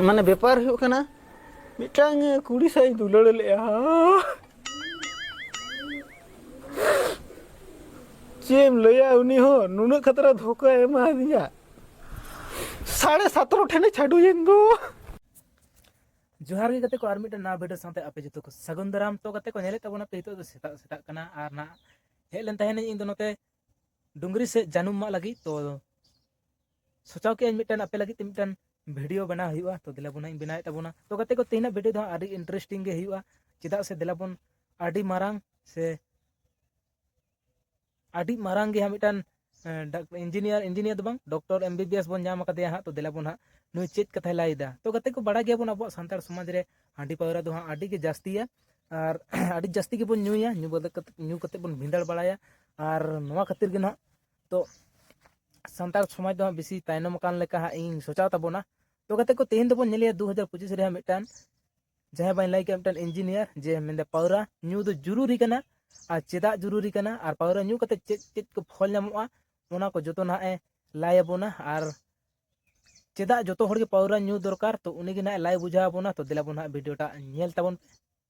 ᱢᱟᱱᱮ ᱵᱮᱯᱟᱨ ᱦᱩᱭᱩᱜ ᱠᱟᱱᱟ ᱢᱤᱫᱴᱟᱝ ᱠᱩᱲᱤ ᱥᱟᱶ ᱤᱧ ᱫᱩᱞᱟᱹᱲ ᱞᱮᱫᱼᱟ ᱪᱮᱫ ᱮᱢ ᱞᱟᱹᱭᱟ ᱩᱱᱤ ᱦᱚᱸ ᱱᱩᱱᱟᱹᱜ ᱠᱷᱟᱛᱨᱟ ᱫᱷᱳᱠᱟ ᱮᱢᱟᱫᱤᱧᱟ ᱥᱟᱲᱮ ᱥᱟᱛᱨᱚ ᱴᱷᱮᱱᱮ ᱪᱷᱟᱰᱩᱭᱮᱱ ᱫᱚ ᱡᱚᱦᱟᱨ ᱜᱮ ᱜᱟᱛᱮ ᱠᱚ ᱟᱨ ᱢᱤᱫᱴᱟᱝ ᱱᱟᱣᱟ ᱵᱷᱤᱰᱤᱭᱳ ᱥᱟᱶᱛᱮ ᱟᱯᱮ ᱡᱚᱛᱚ ᱠᱚ ᱥᱟᱹᱜᱩᱱ ᱫᱟᱨᱟᱢ ᱛᱚ ᱜᱟᱛᱮ ᱠᱚ ᱧᱮᱞᱮᱫ ᱛᱟᱵᱚᱱᱟ ᱯᱮ ᱱᱤᱛᱚᱜ ᱫᱚ ᱥᱮᱛᱟᱜ ᱥᱮᱛᱟᱜ ᱠᱟᱱᱟ ᱟᱨ ᱱᱟᱜ ᱦᱮᱡ ᱞᱮᱱ ᱛᱟᱦᱮᱱᱟᱹᱧ ᱤᱧ ᱫᱚ ᱱᱚᱛᱮ ᱰᱩᱝᱨᱤ ᱥᱮᱫ ᱡᱟᱹᱱᱩᱢ ᱢᱟᱜ ᱞᱟᱹᱜᱤᱫ ᱛᱚ ᱥᱚᱪᱟᱣ ᱠᱮᱜᱼᱟᱹᱧ ᱢᱤᱫᱴᱟᱝ ᱟᱯᱮ ᱞᱟᱹᱜᱤᱫ ᱛᱮ ᱢᱤᱫᱴᱟᱝ ᱵᱷᱤᱰᱤᱭᱳ ᱵᱮᱱᱟᱣ ᱦᱩᱭᱩᱜᱼᱟ ᱛᱚ ᱫᱮᱞᱟ ᱵᱚᱱ ᱤᱧ ᱵᱮᱱᱟᱣᱮᱫ ᱛᱟᱵᱚᱱᱟ ᱛᱚ ᱜᱟᱛᱮ ᱠᱚ ᱛᱮᱦᱮᱧᱟᱜ ᱵᱷᱤᱰᱤᱭᱳ ᱫᱚ ᱟᱹᱰᱤ ᱤᱱᱴᱟᱨᱮᱥᱴᱤᱝ ᱜᱮ ᱦᱩᱭᱩᱜᱼᱟ ᱪᱮᱫᱟᱜ ᱥᱮ ᱫᱮᱞᱟ ᱵᱚᱱ ᱟᱹᱰᱤ ᱢᱟᱨᱟᱝ ᱥᱮ ᱟᱹᱰᱤ ᱢᱟᱨᱟᱝ ᱜᱮ ᱦᱟᱸᱜ ᱢᱤᱫᱴᱟᱝ ᱤᱧᱡᱤᱱᱤᱭᱟᱨ ᱤᱧᱡᱤᱱᱤᱭᱟᱨ ᱫᱚ ᱵᱟᱝ doctor M B B S ᱵᱚᱱ ᱧᱟᱢ ᱟᱠᱟᱫᱮᱭᱟ ᱦᱟᱸᱜ ᱛᱚ ᱫᱮᱞᱟ ᱵᱚᱱ ᱦᱟᱸᱜ ᱱᱩᱭ ᱪᱮᱫ ᱠᱟᱛᱷᱟᱭ ᱞᱟᱹᱭᱫᱟ ᱛᱚ ᱜᱟᱛᱮ ᱠᱚ ᱵᱟᱲᱟᱭ ᱜᱮᱭᱟᱵᱚᱱ ᱟᱵᱚᱣᱟᱜ ᱥᱟᱱᱛᱟᱲ ᱥᱚᱢᱟᱡᱽ ᱨᱮ ᱦᱟᱺᱰᱤ ᱯᱟᱹᱣᱨᱟᱹ ᱫᱚ ᱦᱟᱸᱜ ᱟᱹᱰᱤ ᱜᱮ ᱡᱟᱹᱥᱛᱤᱭᱟ ᱟᱨ ᱟᱹᱰᱤ ᱡᱟᱹᱥᱛᱤ ᱜᱮᱵᱚᱱ ᱧᱩᱭᱟ ᱧᱩ ᱵᱟᱫᱮ ᱠᱟᱛᱮ ᱧᱩ ᱠᱟᱛᱮ ᱵᱚᱱ ᱵᱷᱤᱸᱫᱟᱹᱲ ᱵᱟᱲᱟᱭᱟ ᱟᱨ ᱱᱚᱣᱟ ᱠᱷᱟᱹᱛᱤᱨ ᱜᱮ ᱱᱟᱦᱟᱜ ᱛᱚ ᱥᱟᱱᱛᱟᱲ ᱥᱚᱢᱟᱡᱽ ᱫᱚ ᱦᱟᱸᱜ ᱵᱮᱥᱤ ᱛᱟᱭᱱᱚᱢ ᱟᱠᱟᱱ ᱞᱮᱠᱟ ᱦᱟᱸᱜ ᱤᱧ ᱥᱚᱪᱟᱣ ᱛᱟᱵᱚᱱᱟ ᱛᱚ ᱜᱟᱛᱮ ᱠᱚ ᱛᱮᱦᱮᱧ ᱫᱚᱵᱚᱱ ᱧᱮᱞᱮᱭᱟ ᱫᱩ ᱦᱟᱡᱟᱨ ᱯᱚᱸᱪᱤᱥ ᱨᱮ ᱢᱤᱫᱴᱟᱱ ᱡᱟᱦᱟᱸᱭ ᱵᱟᱹᱧ ᱞᱟᱹᱭ ᱠᱮᱫ ᱢᱤᱫᱴᱟᱱ ᱤᱧᱡᱤᱱᱤᱭᱟᱨ ᱡᱮ ᱢᱮᱱᱫᱟ ᱯᱟᱣᱨᱟ ᱧᱩ ᱫᱚ ᱡᱩᱨᱩᱨᱤ ᱠᱟᱱᱟ ᱟᱨ ᱪᱮᱫᱟᱜ ᱡᱩᱨᱩᱨᱤ ᱠᱟᱱᱟ ᱟᱨ ᱯᱟᱣᱨᱟ ᱧᱩ ᱠᱟᱛᱮ ᱪᱮᱫ ᱪᱮᱫ ᱠᱚ ᱯᱷᱚᱞ ᱧᱟᱢᱚᱜᱼᱟ ᱚᱱᱟ ᱠᱚ ᱡᱚᱛᱚ ᱱᱟᱦᱟᱜ ᱮ ᱞᱟᱭ ᱟᱵᱚᱱᱟ ᱟᱨ ᱪᱮᱫᱟᱜ ᱡᱚᱛᱚ ᱦᱚᱲ ᱜᱮ ᱯᱟᱣᱨᱟ ᱧᱩ ᱫᱚᱨᱠᱟᱨ ᱛᱚ ᱩᱱᱤ ᱜᱮ ᱱᱟᱦᱟᱜ ᱞᱟᱭ ᱵᱩᱡᱷᱟᱹᱣ ᱟᱵᱚᱱᱟ ᱛᱚ ᱫᱮᱞᱟ ᱵᱚᱱ ᱱᱟᱦᱟᱜ ᱵᱷᱤᱰᱤᱭᱳᱴᱟᱜ ᱧᱮᱞ ᱛᱟᱵᱚᱱ ᱯᱮ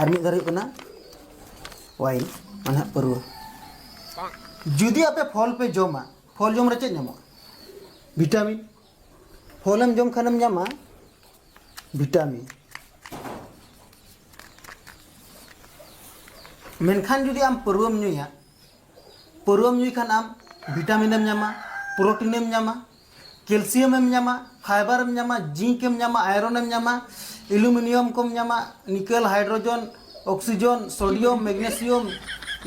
ᱟᱨ ᱢᱤᱫ ᱫᱷᱟᱣ ᱦᱩᱭᱩᱜ ᱠᱟᱱᱟ ᱣᱟᱭᱤᱱ ᱢᱟᱱᱮ ᱯᱟᱹᱨᱣᱟᱹ ᱡᱩᱫᱤ ᱟᱯᱮ ᱯᱷᱚᱞ ᱯᱮ ᱡᱚᱢᱟ ᱯᱷᱚᱞ ᱡᱚᱢ ᱨᱮ ᱪᱮᱫ ᱧᱟᱢᱚᱜᱼᱟ ᱵᱷᱤᱴᱟᱢᱤᱱ ᱯᱷᱚᱞᱮᱢ ᱡᱚᱢ ᱠᱷᱟᱱᱮᱢ ᱧᱟᱢᱟ ᱵᱷᱤᱴᱟᱢᱤᱱ ᱢᱮᱱᱠᱷᱟᱱ ᱡᱩᱫᱤ ᱟᱢ ᱯᱟᱹᱨᱣᱟᱹᱢ ᱧᱩᱭᱟ ᱯᱟᱹᱨᱣᱟᱹᱢ ᱧᱩᱭ ᱠᱷᱟᱱ ᱟᱢ ᱵᱷᱤᱴᱟᱢᱤᱱᱮᱢ ᱧᱟᱢᱟ ᱯᱨᱳᱴᱤᱱᱮᱢ ᱧᱟᱢᱟ ᱠᱮᱞᱥᱤᱭᱟᱢ ᱮᱢ ᱧᱟᱢᱟ ᱯᱷᱟᱭᱵᱟᱨ ᱮᱢ ᱧᱟᱢᱟ ᱡᱤᱝᱠ ᱮᱢ ᱧᱟᱢᱟ ᱟᱭᱨᱚᱱ ᱮᱢ ᱧᱟᱢᱟ ᱮᱞᱩᱢᱤᱱᱤᱭᱟᱢ ᱠᱚᱢ ᱧᱟᱢᱟ ᱱᱤᱠᱮᱞ ᱦᱟᱭᱰᱨᱳᱡᱚᱱ ᱚᱠᱥᱤᱡᱚᱱ ᱥᱳᱰᱤᱭᱟᱢ ᱢᱮᱜᱽᱱᱮᱥᱤᱭᱟᱢ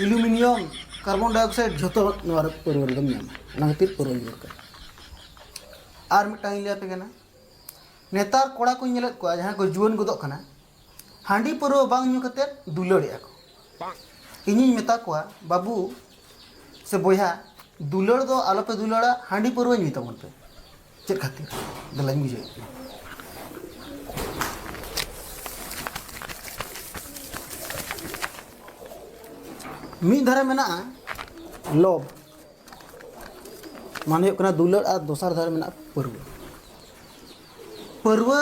ᱮᱞᱩᱢᱤᱱᱤᱭᱟᱢ ᱠᱟᱨᱵᱚᱱ ᱰᱟᱭᱚᱠᱥᱟᱭᱤᱰ ᱡᱷᱚᱛᱚ ᱱᱚᱣᱟ ᱨᱮ ᱯᱟᱹᱨᱣᱟᱹ ᱨᱮᱫᱚᱢ ᱧᱟᱢᱟ ᱚᱱᱟ ᱠᱷᱟᱹᱛᱤᱨ ᱯᱟᱹᱨᱣᱟᱹ ᱧᱩ ᱫᱚᱨᱠᱟᱨ ᱟᱨ ᱢᱤᱫᱴᱟᱝ ᱤᱧ ᱞᱟᱹᱭ ᱟᱯᱮ ᱠᱟᱱᱟ ᱱᱮᱛᱟᱨ ᱠᱚᱲᱟ ᱠᱚᱧ ᱧᱮᱞᱮᱫ ᱠᱚᱣᱟ ᱡᱟᱦᱟᱸᱭ ᱠᱚ ᱡᱩᱣᱟᱹᱱ ᱜᱚᱫᱚᱜ ᱠᱟᱱᱟ ᱦᱟᱺᱰᱤ ᱯᱟᱹᱨᱣᱟᱹ ᱵᱟᱝ ᱧᱩ ᱠᱟᱛᱮ ᱫᱩᱞᱟᱹᱲᱮᱜᱼᱟ ᱠᱚ ᱤᱧᱤᱧ ᱢᱮᱛᱟ ᱠᱚᱣᱟ ᱵᱟᱹᱵᱩ ᱥᱮ ᱵᱚᱭᱦᱟ ᱫᱩᱞᱟᱹᱲ ᱫᱚ ᱟᱞᱚᱯᱮ ᱫᱩᱞᱟᱹᱲᱟ ᱦᱟᱺᱰᱤ ᱯᱟᱹᱨᱣᱟᱹ ᱧᱩᱭ ᱛᱟᱵᱚᱱ ᱯᱮ ᱪᱮᱫ ᱠᱷᱟᱹᱛᱤᱨ ᱫᱮᱞᱟᱧ ᱵᱩᱡᱷᱟᱹᱣ ᱮᱫ ᱯᱮᱭᱟ ᱢᱤᱫ ᱫᱷᱟᱨᱮ ᱢᱮᱱᱟᱜᱼᱟ ᱞᱚᱵᱽ ᱢᱟᱱᱮ ᱦᱩᱭᱩᱜ ᱠᱟᱱᱟ ᱫᱩᱞᱟᱹᱲ ᱟᱨ ᱫᱚᱥᱟᱨ ᱫᱷᱟᱨᱮ ᱢᱮᱱᱟᱜᱼᱟ ᱯᱟᱹᱨᱣᱟᱹ ᱯᱟᱹᱨᱣᱟᱹ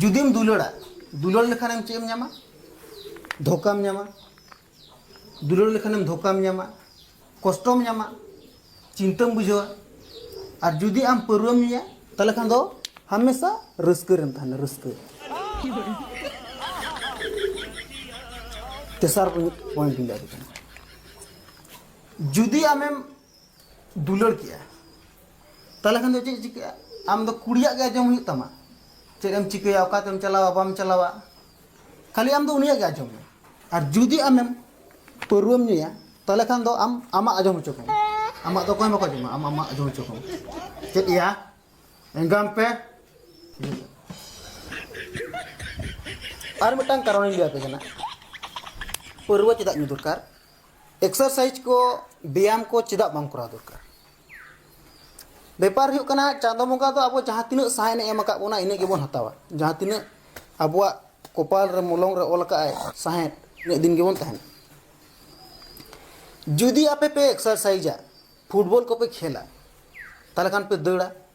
ᱡᱩᱫᱤᱢ ᱫᱩᱞᱟᱹᱲᱟ ᱫᱩᱞᱟᱹᱲ ᱞᱮᱠᱷᱟᱱᱮᱢ ᱪᱮᱫ ᱮᱢ ᱧᱟᱢᱟ ᱫᱷᱳᱠᱟᱢ ᱧᱟᱢᱟ ᱫᱩᱞᱟᱹᱲ ᱞᱮᱠᱷᱟᱱᱮᱢ ᱫᱷᱳᱠᱟᱢ ᱧᱟᱢᱟ ᱠᱚᱥᱴᱚᱢ ᱧᱟᱢᱟ ᱪᱤᱱᱛᱟᱹᱢ ᱵᱩᱡᱷᱟᱹᱣᱟ ᱟᱨ ᱡᱩᱫᱤ ᱟᱢ ᱯᱟᱹᱨᱣᱟᱹᱢ ᱧᱩᱭᱟ ᱛᱟᱦᱞᱮ ᱠᱷᱟᱱ ᱫᱚ ᱦᱟᱢᱮᱥᱟ ᱨᱟᱹᱥᱠᱟᱹ ᱨᱮᱢ ᱛᱟᱦᱮᱱᱟ ᱨᱟᱹᱥᱠᱟᱹ ᱛᱮᱥᱟᱨ ᱯᱚᱭᱮᱱᱴ ᱤᱧ ᱞᱟᱹᱭ ᱠᱟᱱᱟ ᱡᱩᱫᱤ ᱟᱢᱮᱢ ᱫᱩᱞᱟᱹᱲ ᱠᱮᱜᱼᱟ ᱛᱟᱦᱚᱞᱮ ᱠᱷᱟᱱ ᱫᱚ ᱪᱮᱫ ᱪᱤᱠᱟᱹᱜᱼᱟ ᱟᱢ ᱫᱚ ᱠᱩᱲᱤᱭᱟᱜ ᱜᱮ ᱟᱸᱡᱚᱢ ᱦᱩᱭᱩᱜ ᱛᱟᱢᱟ ᱪᱮᱫ ᱮᱢ ᱪᱤᱠᱟᱹᱭᱟ ᱚᱠᱟᱛᱮᱢ ᱪᱟᱞᱟᱣᱟ ᱵᱟᱢ ᱪᱟᱞᱟᱣᱟ ᱠᱷᱟᱹᱞᱤ ᱟᱢ ᱫᱚ ᱩᱱᱤᱭᱟᱜ ᱜᱮ ᱟᱸᱡᱚᱢ ᱢᱮ ᱟᱨ ᱡᱩᱫᱤ ᱟᱢᱮᱢ ᱯᱟᱹᱨᱣᱟᱹᱢ ᱧᱩᱭᱟ ᱛᱟᱦᱚᱞᱮ ᱠᱷᱟᱱ ᱫᱚ ᱟᱢ ᱟᱢᱟᱜ ᱟᱸᱡᱚᱢ ᱦᱚᱪᱚ ᱠᱚᱢ ᱟᱢᱟᱜ ᱫᱚ ᱚᱠᱚᱭ ᱵᱟᱠᱚ ᱟᱸᱡᱚᱢᱟ ᱟᱢ ᱟᱢᱟᱜ ᱟᱸᱡᱚᱢ ᱦᱚᱪᱚ ᱠᱚᱢ ᱪᱮᱫ ᱭᱟ ᱮᱸᱜᱟᱢ ᱯᱮ ᱟᱨ ᱢᱤᱫᱴᱟᱝ ᱠᱟᱨᱚᱱᱤᱧ ᱞᱟᱹᱭ ᱟᱯᱮ ᱠᱟᱱᱟ ᱯᱟᱹᱨᱣᱟᱹ ᱪᱮᱫᱟᱜ ᱧᱩ ᱫᱚᱨᱠᱟᱨ ᱮᱠᱥᱟᱨᱥᱟᱭᱤᱡᱽ ᱠᱚ ᱵᱮᱭᱟᱢ ᱠᱚ ᱪᱮᱫᱟᱜ ᱵᱟᱝ ᱠᱚᱨᱟᱣ ᱫᱚᱨᱠᱟᱨ ᱵᱮᱯᱟᱨ ᱦᱩᱭᱩᱜ ᱠᱟᱱᱟ ᱪᱟᱸᱫᱚ ᱵᱚᱸᱜᱟ ᱫᱚ ᱟᱵᱚ ᱡᱟᱦᱟᱸ ᱛᱤᱱᱟᱹᱜ ᱥᱟᱦᱮᱫ ᱮᱢ ᱟᱠᱟᱫ ᱵᱚᱱᱟ ᱤᱱᱟᱹᱜ ᱜᱮᱵᱚᱱ ᱦᱟᱛᱟᱣᱟ ᱡᱟᱦᱟᱸ ᱛᱤᱱᱟᱹᱜ ᱟᱵᱚᱣᱟᱜ ᱠᱚᱯᱟᱞ ᱨᱮ ᱢᱚᱞᱚᱝ ᱨᱮ ᱚᱞ ᱟᱠᱟᱫ ᱟᱭ ᱥᱟᱦᱮᱫ ᱤᱱᱟᱹᱜ ᱫᱤᱱ ᱜᱮᱵᱚᱱ ᱛᱟᱦᱮᱱᱟ ᱡᱩᱫᱤ ᱟᱯᱮ ᱯᱮ ᱮᱠᱥᱟᱨᱥᱟᱭᱤᱡᱟ ᱯᱷᱩᱴᱵᱚᱞ ᱠᱚᱯᱮ ᱠᱷᱮᱞᱟ ᱛᱟᱦᱚᱞᱮ ᱠᱷᱟᱱ ᱯᱮ ᱫᱟᱹᱲᱟ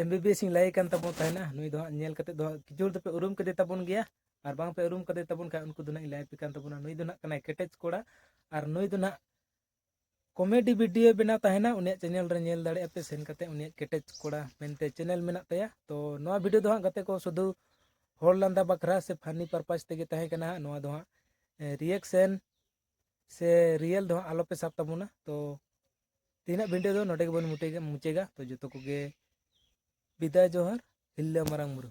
ᱮᱢ ᱵᱤ ᱵᱤ ᱮᱥ ᱤᱧ ᱞᱟᱹᱭ ᱠᱟᱱ ᱛᱟᱵᱚᱱ ᱛᱟᱦᱮᱱᱟ ᱱᱩᱭ ᱫᱚ ᱦᱟᱸᱜ ᱧᱮᱞ ᱠᱟᱛᱮ ᱫᱚ ᱦᱟᱸᱜ ᱠᱤᱪᱷᱩ ᱦᱚᱲ ᱫᱚᱯᱮ ᱩᱨᱩᱢ ᱠᱮᱫᱮ ᱛᱟᱵᱚᱱ ᱜᱮᱭᱟ ᱟᱨ ᱵᱟᱝ ᱯᱮ ᱩᱨᱩᱢ ᱠᱟᱫᱮ ᱛᱟᱵᱚᱱ ᱠᱷᱟᱱ ᱩᱱᱠᱩ ᱫᱚ ᱱᱟᱜ ᱤᱧ ᱞᱟᱹᱭ ᱟᱯᱮ ᱠᱟᱱ ᱛᱟᱵᱚᱱᱟ ᱱᱩᱭ ᱫᱚ ᱱᱟᱜ ᱠᱟᱱᱟᱭ ᱠᱮᱴᱮᱡ ᱠᱚᱲᱟ ᱟᱨ ᱱᱩᱭ ᱫᱚ ᱱᱟᱜ ᱠᱚᱢᱮᱰᱤ ᱵᱷᱤᱰᱤᱭᱳ ᱵᱮᱱᱟᱣ ᱛᱟᱦᱮᱱᱟ ᱩᱱᱤᱭᱟᱜ ᱪᱮᱱᱮᱞ ᱨᱮ ᱧᱮᱞ ᱫᱟᱲᱮᱭᱟᱜᱼᱟ ᱯᱮ ᱥᱮᱱ ᱠᱟᱛᱮ ᱩᱱᱤᱭᱟᱜ ᱠᱮᱴᱮᱡ ᱠᱚᱲᱟ ᱢᱮᱱᱛᱮ ᱪᱮᱱᱮᱞ ᱢᱮᱱᱟᱜ ᱛᱟᱭᱟ ᱛᱚ ᱱᱚᱣᱟ ᱵᱷᱤᱰᱤᱭᱳ ᱫᱚ ᱦᱟᱸᱜ ᱜᱟᱛᱮ ᱠᱚ ᱥᱩᱫᱷᱩ ᱦᱚᱲ ᱞᱟᱸᱫᱟ ᱵᱟᱠᱷᱨᱟ ᱥᱮ ᱯᱷᱟᱱᱤ ᱯᱟᱨᱯᱟᱥ ᱛᱮᱜᱮ ᱛᱟᱦᱮᱸ ᱠᱟᱱᱟ ᱱᱚᱣᱟ ᱫᱚ ᱦᱟᱸᱜ ᱨᱤᱭᱮᱠᱥᱮᱱ ᱥᱮ ᱨᱤᱭᱮᱞ ᱫᱚ ᱦᱟᱸᱜ ᱟᱞᱚᱯᱮ ᱥᱟᱵ ᱛᱟᱵᱚᱱᱟ ᱛᱚ ᱛᱮᱦᱮᱧᱟᱜ ᱵᱷᱤᱰᱤᱭᱳ ᱫᱚ ᱱᱚᱰᱮ ᱜᱮᱵᱚᱱ ᱢᱩᱴᱮᱜᱟ ᱢᱩᱪᱟᱹᱜᱟ ᱛᱚ ᱡᱚᱛᱚ ᱠᱚᱜᱮ ᱵᱤᱫᱟᱭ ᱡᱚᱦᱟᱨ ᱦᱤᱞᱞᱟᱹ ᱢᱟᱨᱟᱝ ᱵᱩᱨᱩ